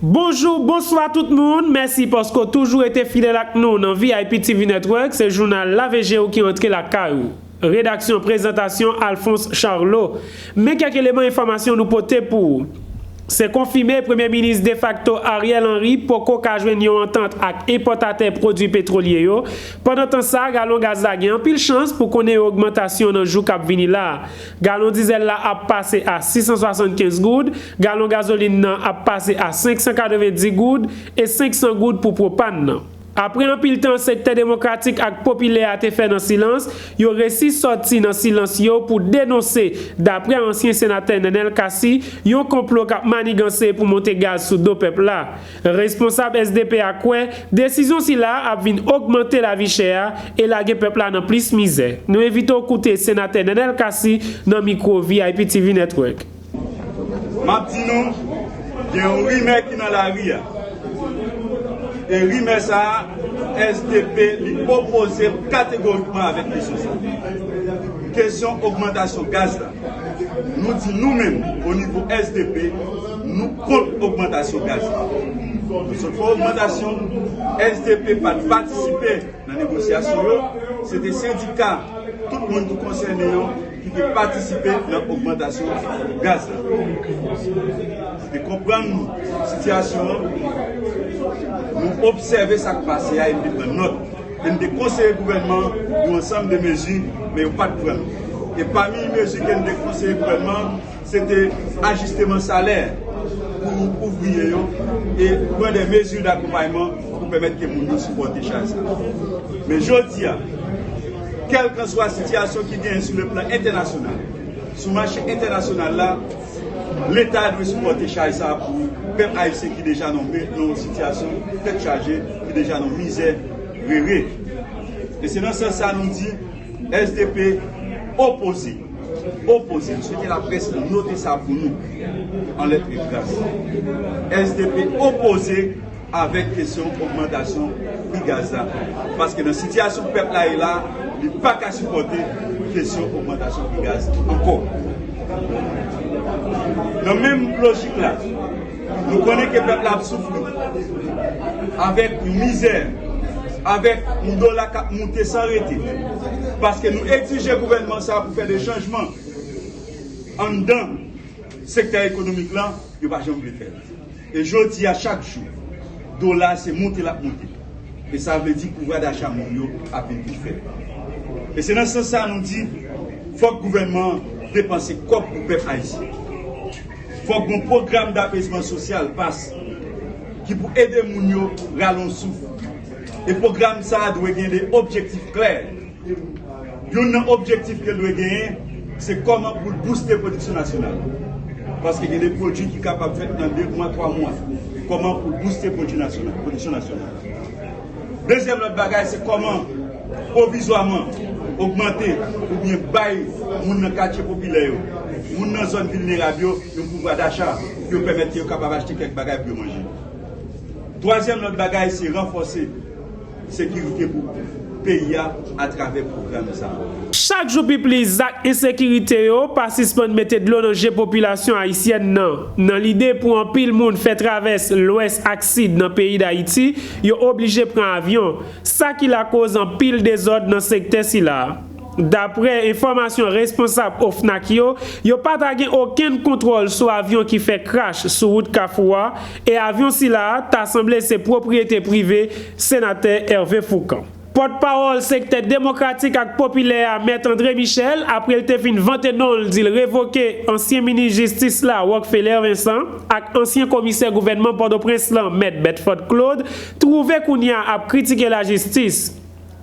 Bonjou, bonswa tout moun! Mèsi paske w toujou rete fidèl ak nou nan vip TV Network, se jounal Lave je w ki antre lakay ou. Redaksyon Prezantasyon Alphonse Charlot Men kèk eleman enfòmasyon nou pote pou ou Se konfime Premye Minis defakto Ariel Henry poko ka jwenn yon antant ak enpòtatè pwodwi petwolye yo Pandan tan sa galon gaz la gen anpil chans pou konnen yon ogmantasyon nan jou k ap vini la Galon dizèl la ap pase a 675 goud, galon gazolin nan ap pase a 590 goud, e 500 goud pou pwopàn nan. Apre anpil tan sektè demokratik ak popilè a te fè nan silans, yo resi sòti nan silans yo pou denonse, daprè ansyen senatè Nenel Cassy, yon konplo k ap maniganse pou monte gaz sou do pèp la. Responsab sdp a kwè desizyon sila a ap vin ogmante lavi chè a e lage pèp la nan plis mizè. Nou envite w koute Senatè Nenel Cassy nan mikwo VIPTV Network. M ap di nou, gen yon rimè ki nan lari a, e rimè sa a, sdp li opoze kategorikman avèk kesyon sa a, kesyon ogmantasyon gaz la. Nou di nou menm o nivo sdp nou kont ogmantasyon gaz la. Nou sot fè ogmantasyon, sdp pa t patisipe nan negosyasyon yo, se te sendika tout moun ki konsène yo ki te patisipe nan ogmantasyon gaz la. Nou te konprann sitiyasyon an, nou obsève sa k pase a epi pran nòt. e n te konseye gouvènman an yon ansanm de mezi men yo pa t pran l e pami mezi ke n te konseye gouvènman an se te ajisteman salè pou ouvriye yo e pran de mezi dakonpayman pou pèmèt ke moun yo sipòte chaj sa yo men jodi a kèlkanswa sitiyasyon ki genyen sou le plan entènasyonal sou mache entènasyonal la. Leta dwe sipòte chay sa pou pèp ayisyen ki deja nan yon sitiyasyon tèt chaje, ki deja nan mizè rere. E se nan sans sa nou di sdp opoze. Opoze. Nou swete laprès note sa pou nou an lèt e kras. Sdp opoze. avèk kesyon ogmantasyon pri gaz la paske nan sitiyasyon pèp la ye la li pa ka sipòte kesyon ogmantasyon pri gaz ankò. Nan menm lojik la nou konnen ke pèp la ap soufri avèk yon mizè, avèk yon dola k ap moute san rete paske nou egzije gouvènman sa pou fè de chanjman anndan sektè ekonomik la yo pa janm vle fè l. E jodi a chak jou dola a se monte lap monte e sa vle di pouvwa dacha moun yo ap vin pi fèb. E se nan sans sa nou di fòk gouvènman an depanse kòb pou pèp ayisyen. Fòk gon pwogram dapezman sosyal pas ki pou ede moun yo rale yon souf e pwogram sa dwe gen 2 objektif klè. Youn nan objektif ke l dwe genyen, se kòman pou l bouste pwodiksyon nasyonal. Paske gen de pwodui ki kapab fèt nan de mwa, twa mwa. Kòman pou l bouste pwodui nasyonal, pwodiksyon nasyonal. Dezyèm lòt bagay, se kòman pwovizwaman ogmante oubyen bay moun nan katye popilè yo, moun nan zòn vilnerab yo, yon pouvwa dacha pou yo pèmèt ke yo kapab achte kèk bagay pou yo manje. Twazyèm lòt bagay, se ranfòse. sekirite pou peyi a atravè pwogram sa a. Chak jou pi plis zak ensekirite yo pa sispann mete dlo nan je popilasyon ayisyèn nan. Nan lide pou anpil moun fè travès lwès ak sid nan peyi Dayiti, yo oblije pran avyon, sa ki lakoz anpil dezòd nan sektè sila. Daprè enfòmasyon responsab OFNAC yo, yo pa ta gen okenn kontwòl sou avyon ki fè krash sou wout Kafou a, e avyon sila a ta sanble se pwopriyete prive Senatè Hervé Fourcand. Pòt pawòl sektè demokratik ak popilè a Mèt André Michel, apre l te fin vante non l di l revoke ansyen minis jistis la Rock Feller Vincent ak ansyen komisè gouvènman Pòtoprens lan Mèt Bedford Claude, twouve kounya ap kritike lajistis.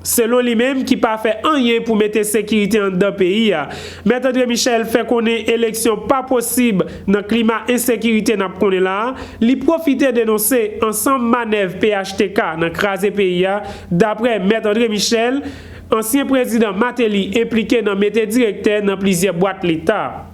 Selon li menm ki pa fè anyen pou mete sekirite anndan peyi a. Mèt Andre Michel fè konnen eleksyon pa posib nan klima ensekirite n ap konnen la a, li pwofite denonse ansanm manèv phtk nan kraze peyi a, daprè Mèt Andre Michel, ansyen prezidan Mateli enplike nan mete direktè nan plizyè bwat leta.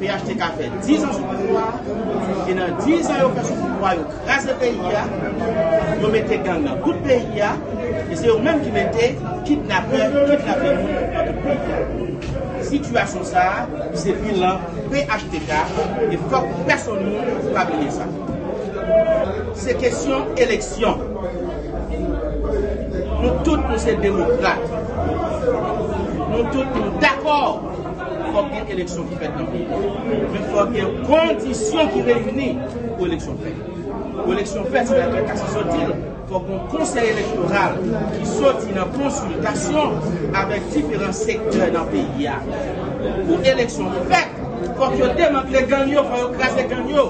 Phtk fè 10 ans sou pouvwa a, e nan 10 ans yo fè sou pouvwa a yo kraze peyi a, yo mete gang nan tout peyi a, e se yo menm ki mete kidnapè kidnape moun nan tout peyi a. Sitiyasyon sa a se bilan phtk e fòk pèsonn moun pa bliye sa. Se kesyon eleksyon. Nou tout nou se demokrat. Nou tout nou dakò. Fòk gen eleksyon ki fèt nan peyi a. Men fòk gen kondisyon ki reyini pou eleksyon fèt. Pou eleksyon fèt, se la kèk kase sot di l, fòk gen yon konsèy elektoral ki soti nan konsiltasyon avèk diferan sektè nan peyi a. Pou eleksyon fèt, fòk yo demantle gang yo, fòk yo kraze gang yo.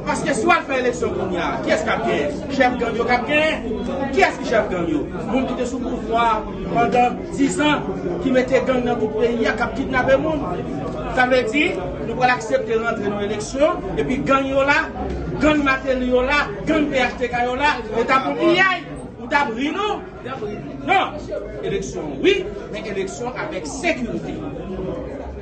Paske si w al fè eleksyon kounye a, kiyès k ap genyen? Chèf gang yo k ap genyen. Kiyès ki chèf gang yo? Moun ki te sou pouvwa a. Pandan 10 an ki mete gang nan tout peyi a kap kidnape moun sa vle di nou pral aksepte rantre nan eleksyon epi gang yo la gang mateli yo la gang phtk yo la e tap yon piyay ou tap ri nou nan eleksyon wi men eleksyon avèk sekirite.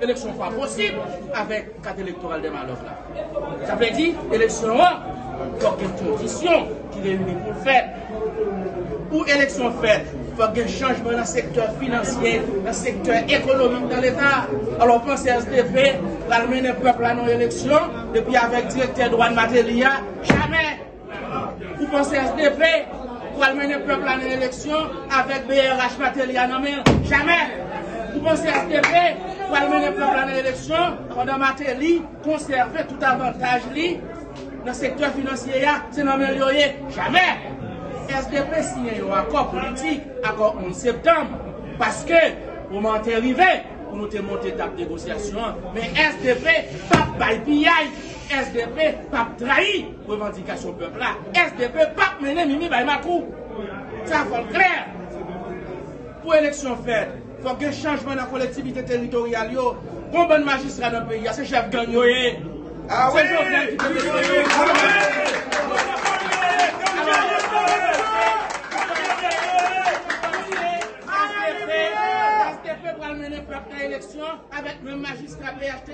Eleksyon pa posib avèk kat elektoral Dema Love la. Sa vle di, eleksyon an fòk gen kondisyon ki reyini pou l fèt. Pou eleksyon fèt, fòk gen chanjman nan sektè finansye, nan sektè ekonomik nan leta. Alò w panse SDP pral mennen pèp la nan yon eleksyon epi avèk direktè dwàn Mateli a? Jamè! Ou panse sdp pral mennen pèp la nan eleksyon avèk brh Martelly a nan men l? Jamè! Ou panse sdp pral mennen pèp la nan eleksyon pandan Martelly konsève tout avantaj li nan sektè finansye a se nan men l yo ye? Jamè! Sdp siyen yon akò politik, akò 11 septanm, paske moman an te rive pou nou te monte tab negosyasyon an, men sdp p ap bay piyay, sdp p ap trayi! Revandikasyon pèp la, sdp pap mennen mimi bay makou. Sa fò l klè. Pou eleksyon fèt, fòk gen chanjman nan kolektivite teritoryal yo. Gon bann majistra nan peyi a, se chèf gang yo ye. Se Jovenel ki te mete yo. Sdp pral mennen pèp nan eleksyon avèk menm majistra pnh.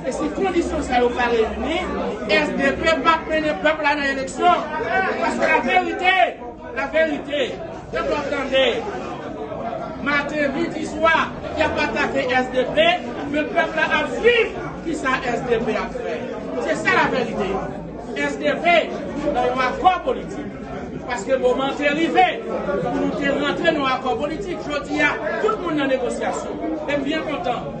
E si kondisyon sa yo pa reyini, sdp p ap mennen pèp la nan eleksyon. Paske la verite, la verite, pèp la ap tande. Maten, midi, swa, y ap atake sdp, men pèp la ap swiv ki sa sdp ap fè. Se sa la verite. Sdp nan yon akò politik. Paske moman an te rive pou nou te rantre nan yon akò politik. Jodi a, tout moun nan negosyasyon. E m byen kontan.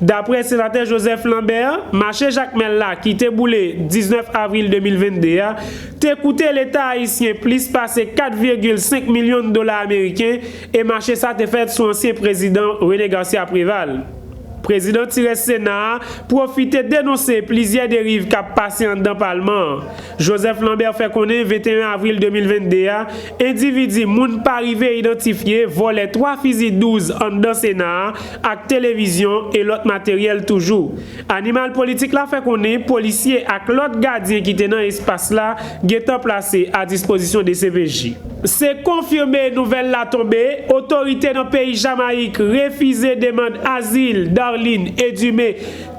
Daprè Senatè Joseph Lambert, mache Jakmèl la ki te boule 19 avril 2022 a, te koute leta ayisyen plis pase 4 virgil 5 milyon dola ameriken e mache sa te fèt sou ansyen prezidan René Garcia Préval. Prezidan ti rès Sena a pwofite denonse plizyè deriv k ap pase anndan palman an. Joseph Lambert fè konnen 21 avril 2022 a, endividi moun pa rive idantifye vòlè 3 fizi 12 anndan Sena a, ak televizyon e lòt materyèl toujou. Animal Politik la fè konnen polisye ak lòt gadyen ki te nan espas la gentan plase a dispozisyon dcpj. Se konfime nouvèl la tonbe, otorite nan peyi Jamayik refize demand azil Darline Edumé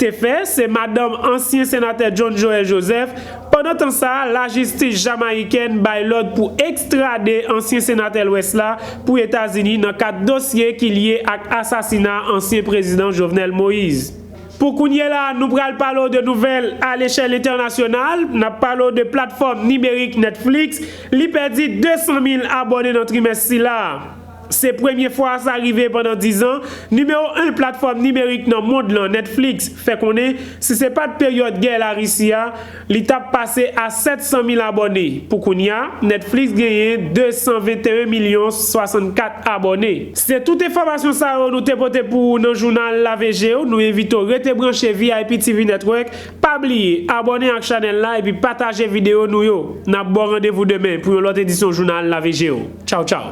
te fè, se madanm ansyen senatè John Joël Joseph, Pandan tan sa, lajistis jamayikèn bay lòd pou ekstrade ansyen senatè Lwès la pou Etazini nan kad dosye ki lye ak asasina ansyen prezidan Jovenel Moise. Pou kounye la, nou pral pale w de nouvèl a lechèl entènasyonal, n ap pale w de platfòm nimerik Netflix, li pèdi 200 mil abòne nan trimès sila a. Se premye fwa sa rive pandan dizan, nimewo 1 platfòm nimerik nan mond lan, Netflix, fè konnen si se pat peryòd gè Larisi a, li tap pase a 700 mil abòne. Pou kounya, Netflix genyen 221 milyon 64 abòne. Se tout enfòmasyon sa yo nou te pote pou ou nan jounal Lave je w, nou envite w rete branche vip TV Network, pa bliye abòne ak chanèl la epi pataje videyo nou yo. Nap ba w randevou demen pou yon lòt edisyon jounal Lave je w. Tchaw tchaw.